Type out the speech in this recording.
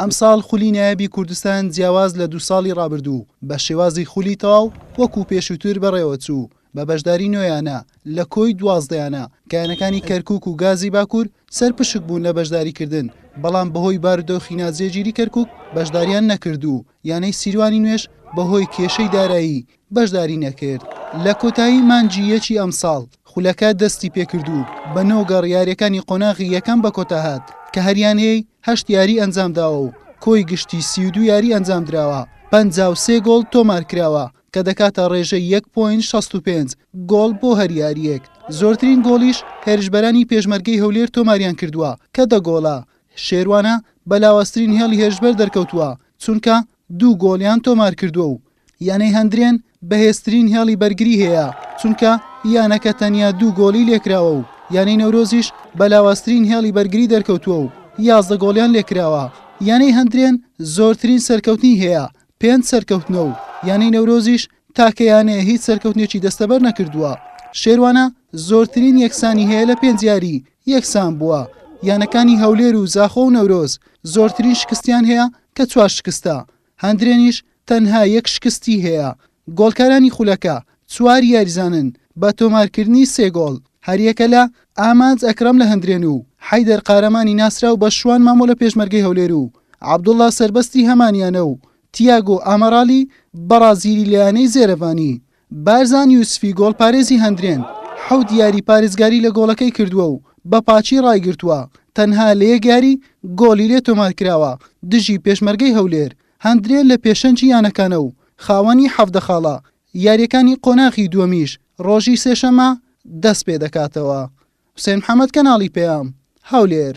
ئەمساڵ خولی نایابی کوردستان جیاواز لە دوو ساڵی ڕابردوو بە شێوازی خولی تەواو وەکو پێشووتر بەڕێوەچوو بە بەشداری نۆ یانە لە کۆی دوازدە یانە کە یانەکانی کەرکوک و گازی باکور سەرپشک بوون لە بەشداریکردن بەڵام بەهۆی بارودۆخی ناجێگیری کەرکوک بەشداریان نەکرد و یانەی سیروانی نوێژ بەهۆی کێشەی دارایی بەشداری نەکرد. لە کۆتایی مانگی یەکی ئەمساڵ، خولەکە دەستی پێکرد و بە نۆ گەڕ یارییەکانی قۆناغی یەکەم بە کۆتا هات، کە هەریانەی هەشت یاری ئەنجامداوە و کۆی گشتی سی و دوو یاری ئەنجامدراوە، پەنجا و سێ گۆڵ تۆمارکراوە، کە دەکاتە ڕێژەی یەک پۆینت شەست و پێنج گۆڵ بۆ هەر یارییەک، زۆرترین گۆڵیش هێرشبەرانی پێشمەرگەی هەولێر تۆماریان کردووە، کە دە گۆڵە، شێروانە بە لاوازترین هێڵی هێرشبەر دەرکەوتووە، چونکە دوو گۆڵیان تۆمارکردووە و یانەی هەندرێن بەهێزترین هێڵی بەرگری هەیە، چونکە یانەکە تەنیا دوو گۆڵی لێکراوە و یانەی نەورۆزیش بە لاوازترین هێڵی بەرگری دەرکەوتووە و یازدە گۆڵیان لێکراوە، یانەی هەندرێن زۆرترین سەرکەوتنی هەیە پێنج سەرکەوتنە و یانەی نەورۆزیش تاکە یانەیە هیچ سەرکەوتنێکی دەستەبەرنەکردووە، شێروانە زۆرترین یەکسانی هەیە لە پێنج یاری، یەکسان بووە، یانەکانی هەولێر و زاخۆ و نەورۆز زۆرترین شکستیان هەیە کە چوار شکستە، هەندرێنیش تەنها یەک شکستی هەیە، گۆڵکارانی خولەکە چوار یاریزانن بە تۆمارکردنی سێ گۆڵ، هەریەکە لە، ئامانج ئەکرەم لە هەندرێن و حەیدەر قارەمانی ناسراو بە شوان مامۆ لە پێشمەرگەی هەولێر و عەبدوڵا سەربەستی هەمان یانە و تیاگۆ ئامارالی بەڕازیلی لە یانەی زێرەڤانی بارزان یوسفی گۆڵپارێزی هەندرێن حەوت یاری پارێزگاری لە گۆڵەکەی کردووە و بە پاچی ڕایگرتووە، تەنها لە یەک یاری گۆڵی لێ تۆمارکراوە، دژی پێشمەرگەی هەولێر. هەندرێن لە پێشەنگی یانەکانە و خاوەنی حەڤدە خاڵە، یارییەکانی قۆناغی دووەمیش ڕۆژی سێشەممە دەستپێدەکاتەوە. حوسێن محەمەد، کەناڵی پەیام، هەولێر.